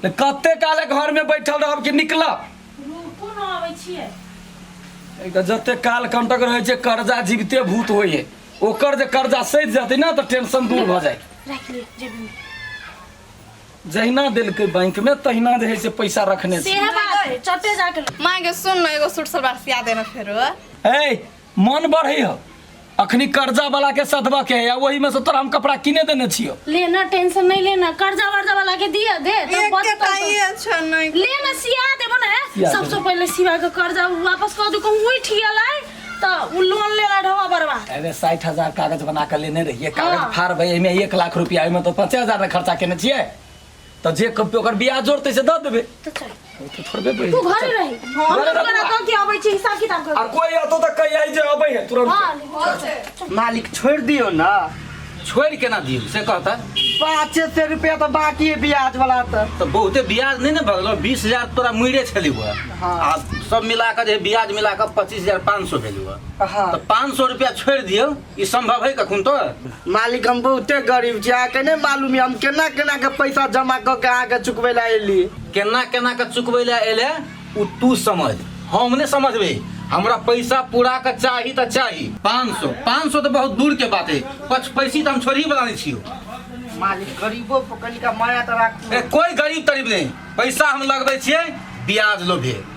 तऽ कते काले घर में बैठल रहब कि निकलब रुकू न अबै छियै एक तऽ जते काल कंटक रहे छै कर्जा जीवते भूत होय है ओकर जे कर्जा सैध जतै ना तऽ टेंशन दूर भऽ जाय राख ले जेबी में जहिना देलकै बैंक में तहिना जे है से पैसा रखने छी सेह बात चटे जाके माँ के सुन न एगो सूट सलवार सिया देना फेरो ए मन बढ़े हो अखनी कर्जा वाला के सधबा के है वही में से तोरा हम कपड़ा किने देने छियो लेना टेंशन नहीं लेना कर्जा वर्जा वाला के दिया दे तो एक बच के पा ताई अच्छा नहीं लेना सिया देबो ना सिया सबसे देबो। पहले सिवा के कर्जा वापस कर दू कहूं उठ गेलै तो उ लोन लेला ढवा बरवा अरे साठ हजार कागज बना के लेने रहिए कागज हाँ। फाड़ भाई एमे एक लाख रुपया एमे तो पचास हजार ना खर्चा केने छिए तऽ जे कमतै ओकर ब्याज जोड़तै से दऽ देबै तो चल ओ तऽ थोड़बे बढ़ि तू घरे रही हम घरे तो रह करा तू। कह के अबै छी हिसाब किताब आ कर कोई अतो तऽ कहिया जे अबै है तुरंत हां मालिक छोड़ दियो ना छोड़ि केना दियौ से कहता पाँचे सौ रुपया तो बाकी है ब्याज वाला तो तऽ बहुते ब्याज नहि ने भगलो बीस हजार तोरा मुइरे छली हुआ हाँ। आ सब मिला कऽ जे ब्याज मिला कऽ पच्चीस हजार पाँच सौ भेल हुआ हाँ तऽ पाँच सौ रुपया छोड़ि दियौ ई संभव है कखन तो मालिक हम बहुते गरीब छी अहाँके नहि मालूम यऽ हम केना केना के पैसा जमा कऽ के अहाँके चुकबै लए एली केना केना के चुकबै लए एले ओ तू समझ हम नहि समझबै हमरा पैसा पूरा के चाही तऽ चाही पाँच सौ पाँच सौ तऽ बहुत दूर के बात है पच पैसी तऽ हम छोड़ही बला नहि छियौ मालिक गरीबो पर कनिका माया तऽ राखू ए, कोई गरीब तरीब नहीं पैसा हम लगबै छियै ब्याज लोभे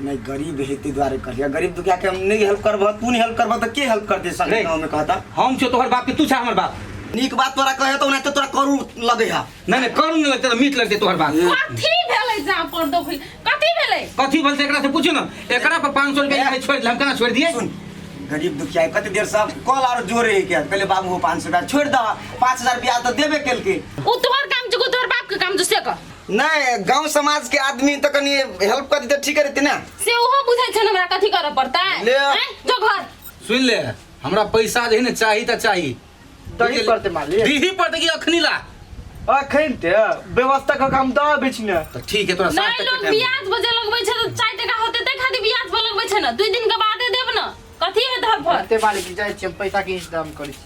नहीं गरीब है ते द्वारे कर लिया गरीब दुखिया के हम नहीं हेल्प करबह तू नहीं हेल्प करबह तो के हेल्प कर दे संगे नहीं। गाँव में कहता हम छो तोहर बाप के तू छा हमर बाप नीक बात तोरा कहे तो नहीं तो तोरा करू लगे है नहीं नहीं करू नहीं लगते तो मीठ लगते तोहर बाप कथी भेलै जा पर देखै कथी भेलै कथी बोलते एकरा से पूछू ना एकरा पर 500 रुपया है छोड़ हम केना छोड़ दिए सुन गरीब दुखिया है, कते देर से अब कॉल आर जोरे है क्या कहले बाबू हो पाँच सौ रुपया छोड़ दह पाँच हजार रुपया तो देबे केलके उ तोहर काम जो तोहर बाप के काम जो से कर नहीं गांव समाज के आदमी तो कनी हेल्प कर देते ठीक रहते ना से ओहो बुझै छै ने हमरा कथी करऽ पड़तै ले। हैं? जो घर सुन ले हमरा पैसा जे है ना चाही त चाही दही पड़ते मालिक दीही पड़ते कि अखनी ला अखन ते व्यवस्था के काम द बीच में तो ठीक है तोरा साथ नहीं तक लोग के टाइम ब्याज बजे लगबै छै तऽ चारि टाका होतै तै खातिर ब्याज पर लगबै छै ने दुइ दिन के बादे देब ने कथी है धर फर ते मालिक जाय छी हम पैसा के इंतजाम करै छी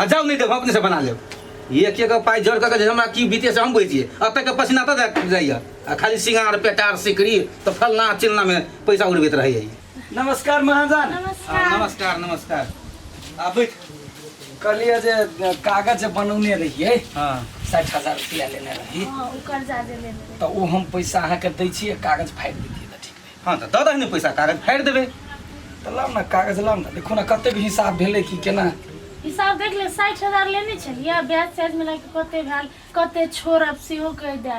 आ जाउ नहि देब हम अपनेसँ बना लेब एक एक पाइ जोड़ कऽ के जे हमरा की बीते से हम बुझै छियै एतऽ के पसीना तऽ देख जाइए आ खाली सिंगार पेटार सिकरी तऽ फलना चिलनामे पैसा उड़बैत रहैए ई। नमस्कार महाजन आ, नमस्कार नमस्कार नमस्कार आ बैठ कहलिए जे कागज जे बनौने रहिए हँ साठि हजार रुपया लेने रही हाँ, उ कर्जा देले रहे। तऽ ओ हम पैसा अहाँके दै छियै कागज फाड़ि दै हँ तऽ दऽ दही ने पैसा कागज फाड़ि देबै तऽ लाउ ने कागज लाउ ने देखू ने कतेक हिसाब भेलै कि केना हिसाब देख ले साठि हजार लेने छलियै ब्याज त्याज मिला के कते भेल कते छोड़ब सेहो कहि दे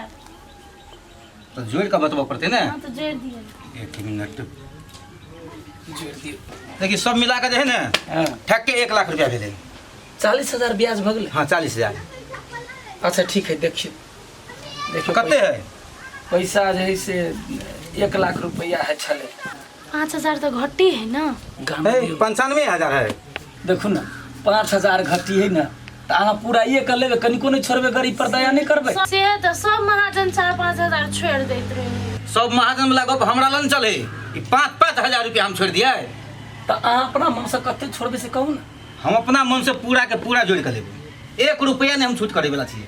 तऽ जोड़ि कऽ बतबऽ पड़तै ने हम तऽ जोड़ि दिए एक मिनट जोड़ि दियौ देखी सब मिला कऽ जे है ने हँ ठक के एक लाख रुपया भेलै चालीस हजार ब्याज भऽ गेलै हाँ चालीस हजार अच्छा ठीक है देखियौ देखियौ कते है पैसा जे है से एक लाख रुपया है छले पाँच हजार तो घटी है ना गाम है दियौ। पंचानवे हजार है देखू ने पाँच हजार घटी है ना तऽ अहाँ पूरा ये कर लेबै कनिको नहि छोड़बै गरीब पर दया नहि करबै से तो सब महाजन चार पाँच हजार छोड़ देते रहे सब महाजन वाला गप हमरा लग चले ई पाँच पाँच हजार रुपया हम छोड़ दिए तऽ अहाँ अपना मनसँ कते छोड़बै से कहू ने हम अपना मन से पूरा के पूरा जोड़ के लेबे एक रुपया ने हम छूट करे वाला छिए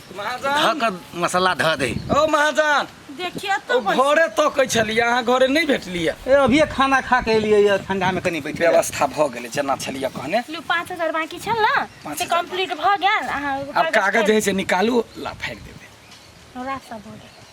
धऽ कऽ मसाला धऽ दे ओ महाजान देखिए ओ तो बस। घरे तकै छलियै अहाँ घरे नहि भेटलियै ए अभिये खाना खा के एलियै ये ठंडा में कनी बैठे जा। व्यवस्था भऽ गेलै जेना छलियै कहने लू पाँच हजार बाँकी छल ना पाँच से हजार। कंप्लीट भऽ गेल अहाँ आब कागज जे है से निकालू ला फाड़ि देबै रात सब भऽ गेल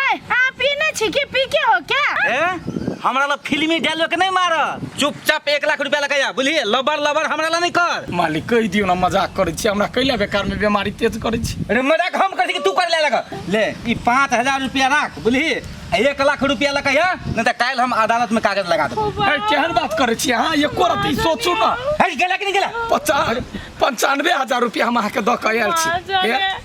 अय अहाँ पीने छी कि पी के हो क्या ए हमरा ला फिल्मी डायलॉग नहीं मार चुपचाप एक लाख रुपया लगाया बुझलिए लबर लबर हमरा ला नहीं कर मालिक कहि दियौ ने मजाक करै छी हमरा कैला बेकारमे बेमारी तेज करै छी अरे मजाक हम कर तू कर ले लगा ले ई पाँच हजार रुपया राख बुझलिए आ एक लाख रुपया लगाया नहीं तो काल हम अदालत में कागज लगा देबो ए, केहन बात करै छी अहाँ एको रति सोचू ने हट गेला कि नहीं गेला पचान पंचानबे हजार रुपया हम अहाँके दऽ कऽ आयल छी ए,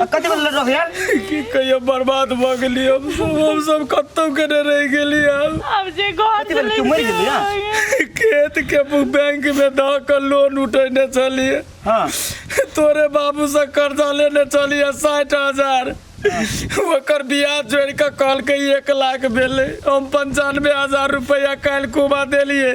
आ कते बजे लड़ रहे यार की कहियो बर्बाद भऽ गेली हम सब हम सब कतौ के ने रहि गेली हम अब जे घर कते बजे तू मरि गेली ना खेत के बैंक में दऽ कऽ लोन उठेने छलिए हां तोरे बाबू से कर्जा लेने छलिए साठि हजार ओकर ब्याज जोड़ि कऽ कहलकै एक लाख भेलै हम पंचानवे हजार रुपैआ काल्हि कुबा देलियै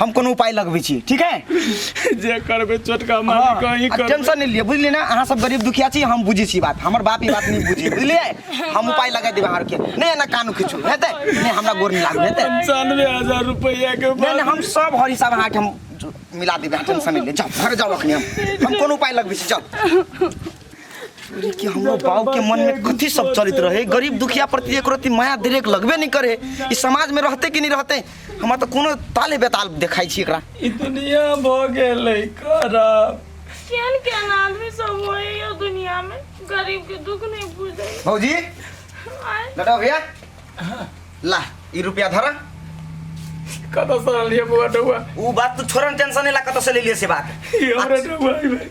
हम कोनो उपाय लगबै छी ठीक है जे करबे छोटका हाँ, मालिक अहीं आ करबे टेंशन नहीं लिए बुझलिए ना अहाँ सब गरीब दुखिया छी हम बुझी छी बात हमर बाप ई बात नहीं बुझी बुझलिए हम उपाय लगा देब अहाँ के नहीं ना कानू किछु हेतै नहीं हमरा गोर नहीं लागू हेतै पंचानवे हजार रुपया के नहीं नहीं हम सब हर हिसाब अहाँ के हम मिला देब अहाँ टेंशन नहीं ले जाओ घर जाओ अखनी हम हम कोनो उपाय लगबै छी जाओ अरे कि हमरो बाबू के मन में कथी सब चलित रहे गरीब दुखिया प्रति एक रति माया दिलेक लगबे नहीं करे ई समाज में रहते कि नहीं रहते हमरा तो कोनो ताले बेताल देखाई छी एकरा ई दुनिया भ गेलै खराब केहन केहन आदमी सब होए यो दुनिया में गरीब के दुख नहीं बुझे भौजी आय लटा भैया ला ई रुपया धरा कतऽ से आनलियै बौआ डौआ ऊ बात तू छोड़न टेंशन नहीं ला कतऽ से ले लिए से बात ई हमरा डौआ ई भाई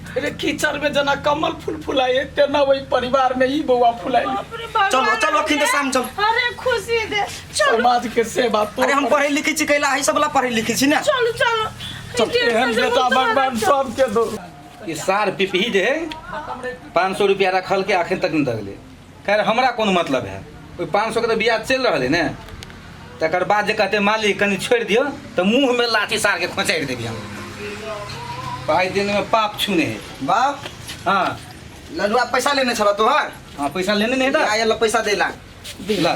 अरे कीचड़ में जना कमल फूल फुलाए तेना वही परिवार में ही बउआ फुलाए बाप रे भगवान। चलो, चलो, अखन तऽ शाम चल। अरे खुशी दे चलो समाज के सेवा तो अरे हम पढ़े लिखे छी कैला है सबला पढ़े लिखे छी ना चलो चलो चल, डेढ़ सौ एहन से बेटा बहुत भगवान बड़ा चल। सबके दो ई सार पिपही जे है पाँच सौ रुपया रखल के अखन तक नहीं दगले खैर हमरा कोन मतलब है ओहि पाँच सए के तऽ ब्याज चलि रहल है ने तकर बाद जे कहते मालिक कनि छोड़ि दियौ तऽ मुँहमे लाठी सारके खोँचारि देबी हम पाँच दिनमे पाप छूने है बाप हाँ लडुआ पैसा लेने छलऽ तोहर हाँ पैसा लेने नहीं था आयल पैसा देला ला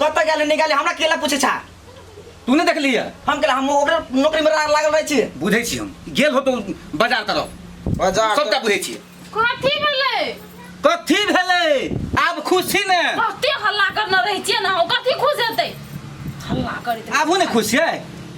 कत गेले नहीं गेले हमरा केला पूछे छा तू नहीं देख लिया हम केला हम ओकर नौकरी में लागल रहे छी बुझे छी हम गेल हो तो बाजार तरफ बाजार सबटा बुझे छी कथी भेलै कथी भेलै आब खुशी ने कते हल्ला करना रहे छी ना कथी खुश हेतै हल्ला करते आबू ने खुश है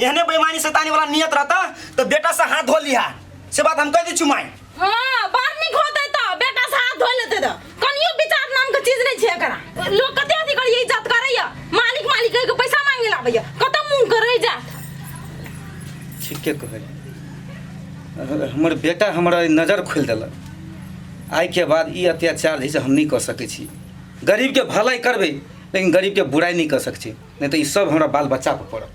एहने बेईमानी शैतानी वाला नियत रहता तो बेटा से हाथ धो लिया से बात हम कह दी छुमाई हां बार निक होते तो बेटा से हाथ धो लेते तो कनियो विचार नाम के चीज नहीं छे करा लोग कते अथी कर यही जात करैया मालिक मालिक के पैसा मांगे ला भैया कत मुंह करे जा ठीक के कहे हमर बेटा हमरा नजर खोल देलक आइ के बाद ई अत्याचार जे हम नहीं कर सके छी गरीब के भलाई करबे लेकिन गरीब के बुराई नहीं कर सके छी नहीं तो ई सब हमरा बाल बच्चा पर पड़त